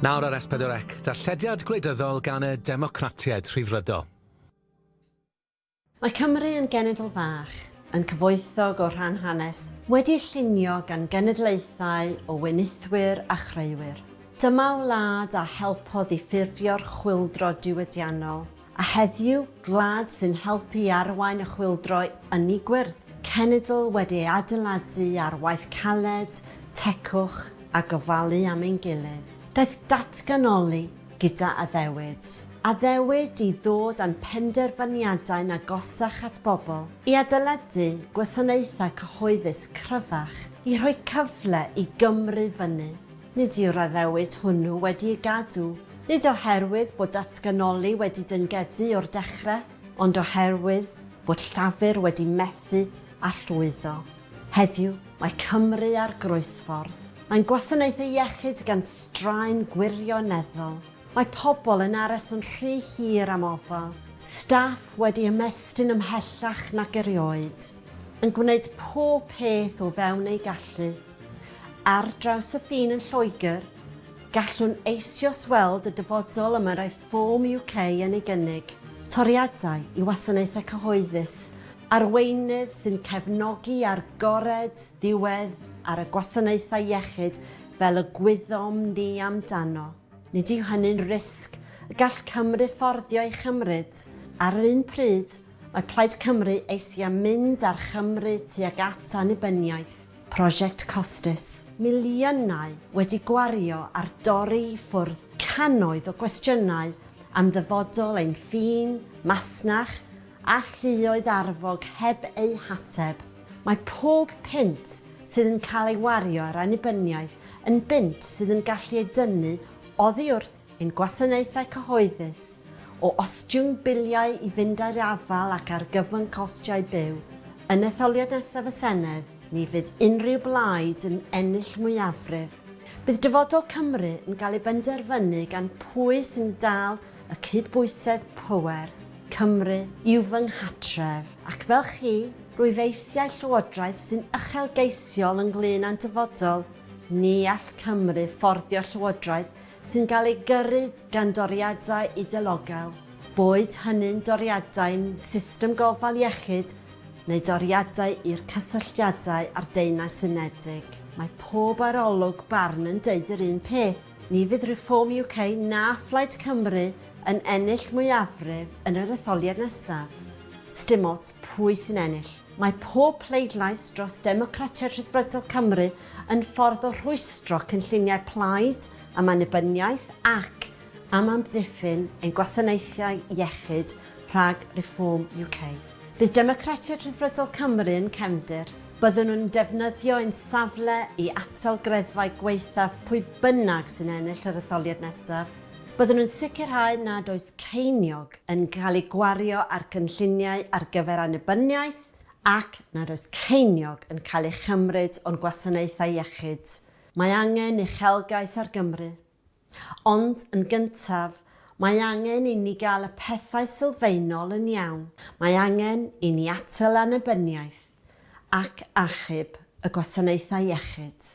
Nawr ar S4C, darllediad gwleidyddol gan y Democratiaid Rhyddfrydol. Mae Cymru yn genedl fach, yn cyfoethog o rhan hanes, wedi'i llunio gan genedlaethau o wenithwyr a chreuwyr. Dyma wlad a helpodd i ffurfio'r chwyldro diwydiannol, a heddiw, gwlad sy'n helpu i arwain y chwyldro ynni gwyrdd, cenedl wedi ei adeiladu ar waith caled, tecwch a gofalu am ein gilydd. Daeth datganoli gyda addewid. Addewid i ddod â'n penderfyniadau'n agosach at bobl, i adeiladu gwasanaethau cyhoeddus cryfach, i rhoi cyfle i Gymru fynnu. Nid yw'r addewid hwnnw wedi'i gadw, nid oherwydd bod datganoli wedi dyngedi o'r dechrau, ond oherwydd bod Llafur wedi methu â llwyddo. Heddiw, mae Cymru ar groesffordd. Mae'n gwasanaethau iechyd gan straen gwirioneddol. Mae pobl yn aros yn rhy hir am ofal, staff wedi ymestyn ymhellach nag erioed, yn gwneud pob peth o fewn eu gallu. Ar draws y ffin yn Lloegr, gallwn eisioes weld y dyfodol y mae Reform UK yn ei gynnig, toriadau i wasanaethau cyhoeddus Arweinydd sy'n cefnogi agored diwedd ar y gwasanaethau iechyd fel y gwyddom ni amdano, nid yw hynny'n risg y gall Cymru fforddio ei chymryd. Ar yr un pryd, mae Plaid Cymru eisiau am mynd â'r Chymru tuag at annibyniaeth, prosiect costus. Miliynau wedi gwario ar dorri i ffwrdd cannoedd o gwestiynau am ddyfodol ein ffin, masnach, A lluoedd arfog heb eu hateb. Mae pob punt sydd yn cael ei wario ar annibyniaeth yn bunt sydd yn gallu ei dynnu oddi wrth ein gwasanaethau cyhoeddus, o ostwng biliau i fynd â'r afael ac argyfwng costiau byw. Yn etholiad nesaf y Senedd, ni fydd unrhyw blaid yn ennill mwyafrif. Bydd dyfodol Cymru yn cael ei benderfynu gan pwy sy'n dal y cydbwysedd pŵer, Cymru yw fy nghartref, ac fel chi, rwyf eisiau llywodraeth sy'n uchelgeisiol ynglŷn â'n dyfodol, ni all Cymru fforddio llywodraeth sy'n cael ei gyrru gan doriadau idelogel, boed hynny'n doriadau'n system gofal iechyd neu doriadau i'r cysylltiadau â'r Deyrnas Unedig. Mae pob arolwg barn yn deud yr un peth. Ni fydd Reform UK na Phlaid Cymru yn ennill mwyafrif yn yr etholiad nesaf. Sdim ots pwy sy'n ennill, mae pob pleidlais dros Democratiaid Rhyddfrydol Cymru yn ffordd o rhwystro cynlluniau Plaid am annibyniaeth ac am amddiffyn ein gwasanaethau iechyd rhag Reform UK. Bydd Democratiaid Rhyddfrydol Cymru yn cefndir. Byddwn nhw'n defnyddio ein safle i atal greddfau gwaethaf pwy bynnag sy'n ennill yr etholiad nesaf. Byddwn nhw'n sicrhau nad oes ceiniog yn cael ei gwario ar gynlluniau ar gyfer annibyniaeth ac nad oes ceiniog yn cael ei chymryd o'n gwasanaethau iechyd. Mae angen uchelgais ar Gymru. Ond, yn gyntaf, mae angen inni gael y pethau sylfaenol yn iawn. Mae angen i ni atal annibyniaeth ac achub y gwasanaethau iechyd.